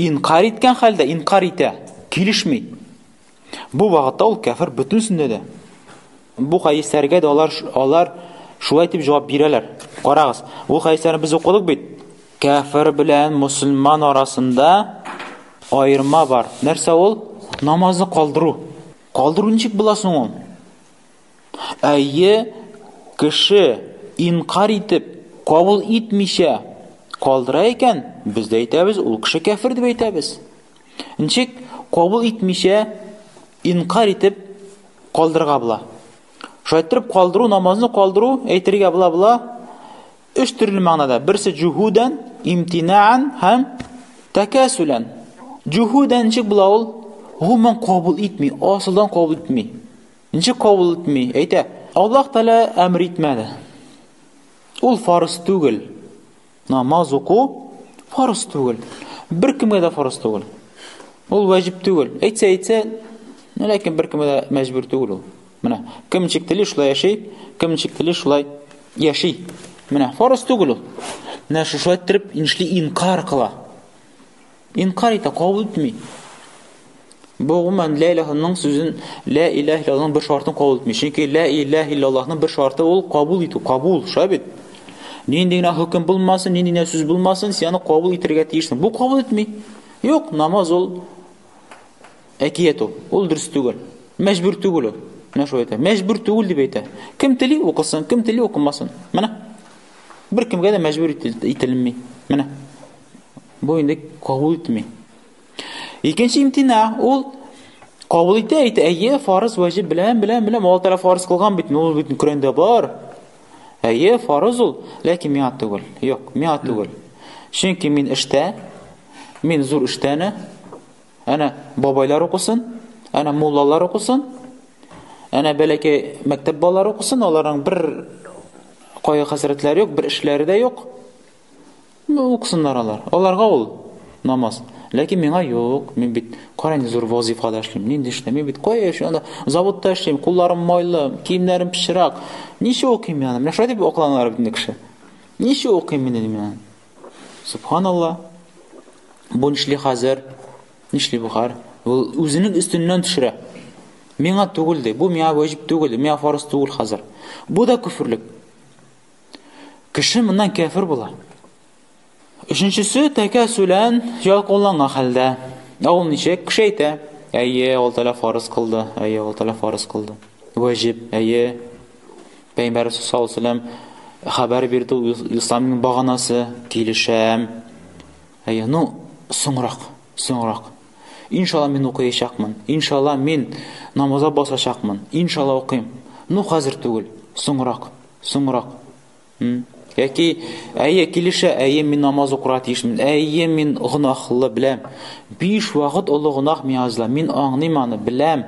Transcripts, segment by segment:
Инкарь иткән хәлдә, инкарь итә, килешми. Бу вакытта ул кәфер бөтенсендә дә. Бу хәдисләргә дә алар алар шулай дип җавап бирәләр. Карагыз, ул хәдисләрне без укыдык бит. Кәфер белән мусульман арасында аерма бар. Нәрсә ул? Намазны калдыру. Калдыру ничек була соң ул? Әйе, кеше инкарь итеп, кабул итмичә калдыра икән, без дә әйтәбез, ул кеше кәфер дип әйтәбез. Ничек кабул итмичә, инкарь итеп калдырга була? Шайтырып калдыру, намазны калдыру, әйтергә була-була, өч төрле мәгънәдә. Берсе җухудән, имтинаан һәм тәкәсүлән. Җухудән ничек була ул? Гомумән кабул итми, асылдан кабул итми. Ничек кабул итми? Әйтә, Аллаһ Тәгалә әмер итмәде. Ул фарыз түгел. Намаз уку фарыз түгел. Бер кемгә дә фарыз түгел. Ул ваҗиб түгел. Әйтсә, әйтсә, ләкин бер кемгә дә мәҗбүр түгел ул. Менә, кем ничек тели, шулай яши, кем ничек тели, шулай яши. Менә, фарыз түгел ул. Менә шушы әйттереп, иншли инкар кыла. Инкар итә, кабул итми. Бу гомумән ла илаһының сүзен, ла илаһ иллаллаһның бер шартын кабул итми. Чөнки ла илаһ иллаллаһның бер шарты ул кабул итү, кабул, шулай бит? Нинди генә хөкем булмасын, нинди генә сүз булмасын, син аны кабул итәргә тиешсең. Бу кабул итми. Юк, намаз ул әкият ул. Ул дөрес түгел. Мәҗбүр түгел ул. Менә шулай әйтә. Мәҗбүр түгел дип әйтә. Кем тели укысын, кем тели укымасын. Менә Беркемгә дә мәҗбүр ителми. Менә. Бу инде кабул итми. Икенче имтина ул кабул итә, әйтә, әйе, фарыз ваҗиб белән, белән, белән, Алла Тәгалә фарыз кылган бит, ул бит Коръәндә бар. Әйе, фарыз ул, ләкин миңа түгел. Юк, миңа түгел. Чөнки мин эштә, мин зур эштәне, Әнә бабайлар укысын, әнә муллалар укысын, әнә бәләкәй мәктәп балалары укысын, аларның бер кайгы хәсрәтләре юк, бер эшләре дә юк. Ну, укысыннар алар. Аларга ул намаз. Ләкин миңа юк, мин бит караң зур вазифада эшлим, нинди эшләм, мин бит кая эшлим, анда заводта эшлим, кулларым майлы, киемнәрем пычрак. Ничә укыйм мин аны? Менә шулай дип акланалар бит инде кеше. Ничә укыйм мин инде мин аны? Субханалла. Бу нишли хәзер? Нишли бу хәр? Ул үзенең өстеннән төшерә. Миңа түгел ди. Бу миңа ваҗиб түгел, миңа фарыз түгел хәзер. Бу да күферлек. Кеше моннан кәфир була. Өченчесе тәкә сүлән ялкынланган хәлдә. Ә ул ничек? Кеше әйтә, әйе, ул тәлә фарыз кылды, әйе, ул тәлә фарыз кылды. Ваҗиб, әйе. Пәйгамбәр саллаллаху алейһи ва сәлләм хәбәр бирде ул исламның баганасы, килешәм. Әйе, ну, соңрак, соңрак. Иншалла мин укыячакмын. Иншалла мин намазга басачакмын. Иншалла укыйм. Ну, хәзер түгел, соңрак, соңрак. Яки, әйе, килешә, әйе, мин намаз укырга тиешмен. Әйе, мин гынахлы беләм. Биш вакыт олы гынах миязла. Мин аңлыйм аны, беләм.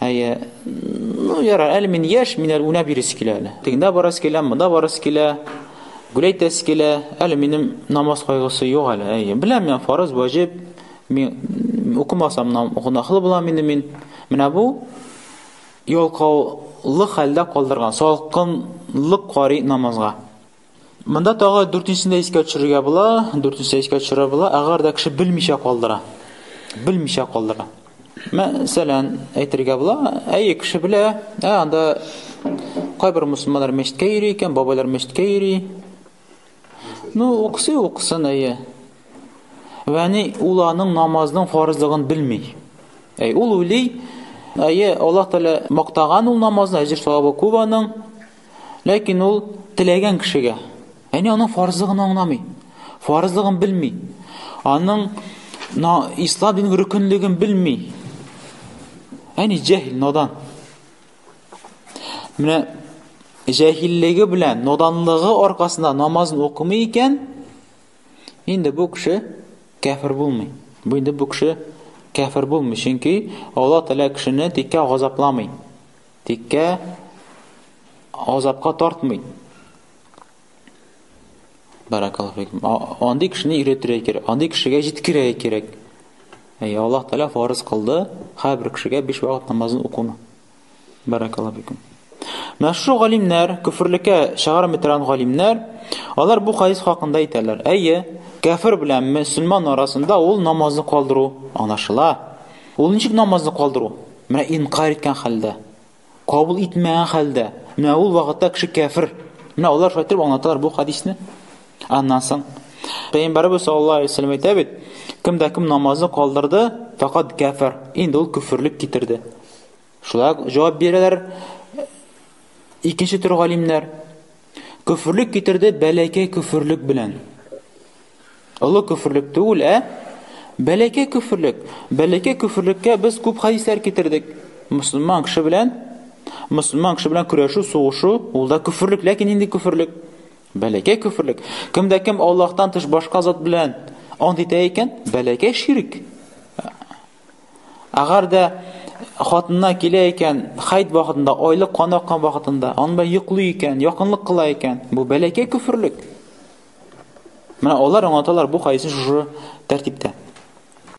Әйе. Ну, ярар, әле мин яшь, мин әле уйнап йөрис килә әле. Тегендә барасы килә, монда барасы килә. Гүләйтәсе килә. Әле минем намаз кайгысы юк әле. Әйе. Беләм мин фарыз, ваҗиб. Мин укымасам нам гунахлы булам инде мин. Менә бу ялкаулы хәлдә калдырган, салкынлык карый намазга. Монда тагы дүртенчесен дә искә төшерергә була, дүртенчесен искә төшерә була, әгәр дә кеше белмичә калдыра. Белмичә калдыра. Мәсәлән, әйтергә була, әйе, кеше белә, ә анда кайбер мусламалар мәчеткә йөри икән, бабайлар мәчеткә йөри. Ну, уксы, уксын, әйе. Вәни ул аның намазның фарызлыгын белми. Әй, ул уйлый, әйе, Аллаһ Тәгалә мактаган ул намазны, әҗер савабы күп аның. Ләкин ул теләгән кешегә. Әни аның фарызы гына аңламый. Фарызлыгын белми. Аның ислам динен рөкенлеген белми. Әни җәһил, надан. Менә җәһиллеге белән, наданлыгы аркасында намазын укымый икән, инде бу кеше кәфер булмый. Бу инде бу кеше кәфер булмый, чөнки Алла Тәгалә кешене тиккә газапламый. Тиккә азапка тартмый. Баракаллаху фикум. Андый кешене өйрәтергә кирәк, андый кешегә җиткерергә кирәк. Әй, Аллаһ Тәгалә фарыз кылды, һәрбер кешегә биш вакыт намазын укуны. Баракаллаху фикум. Мәшһүр галимнәр, күферлеккә чыгармый торган галимнәр, алар бу хадис хакында әйтәләр. Әйе, кәфер белән мөселман арасында ул намазны калдыру аңлашыла. Ул ничек намазны калдыру? Менә инкарь иткән хәлдә, кабул итмәгән хәлдә. Менә ул вакытта кеше кәфер. Менә алар шулай итеп аңлаталар бу хадисне. Аннан соң Пәйгамбәрбез саллаллаһу алейһи ва сәлләм әйтә бит, кем дә кем намазны калдырды, факат кәфер. Инде ул күферлек китерде. Шулай ук җавап бирәләр икенче төр галимнәр. Көферлек китерде бәләкәй көферлек белән. Олы көферлек түгел, ә бәләкәй көферлек. Бәләкәй көферлеккә без күп хадислар китердек. Мусламан кеше белән мусламан кеше белән көрәшү, сугышу, ул да көферлек, ләкин инде көферлек. Бәләкәй көферлек. Кемдә кем Аллаһтан тыш башка зат белән ант итә икән, бәләкәй ширк. Әгәр дә хатынына килә икән, хайд вакытында, айлык кан аккан вакытында, аны белән йоклый икән, якынлык кыла икән, бу бәләкәй күферлек. Менә алар аңлаталар бу хадисне шушы тәртиптә.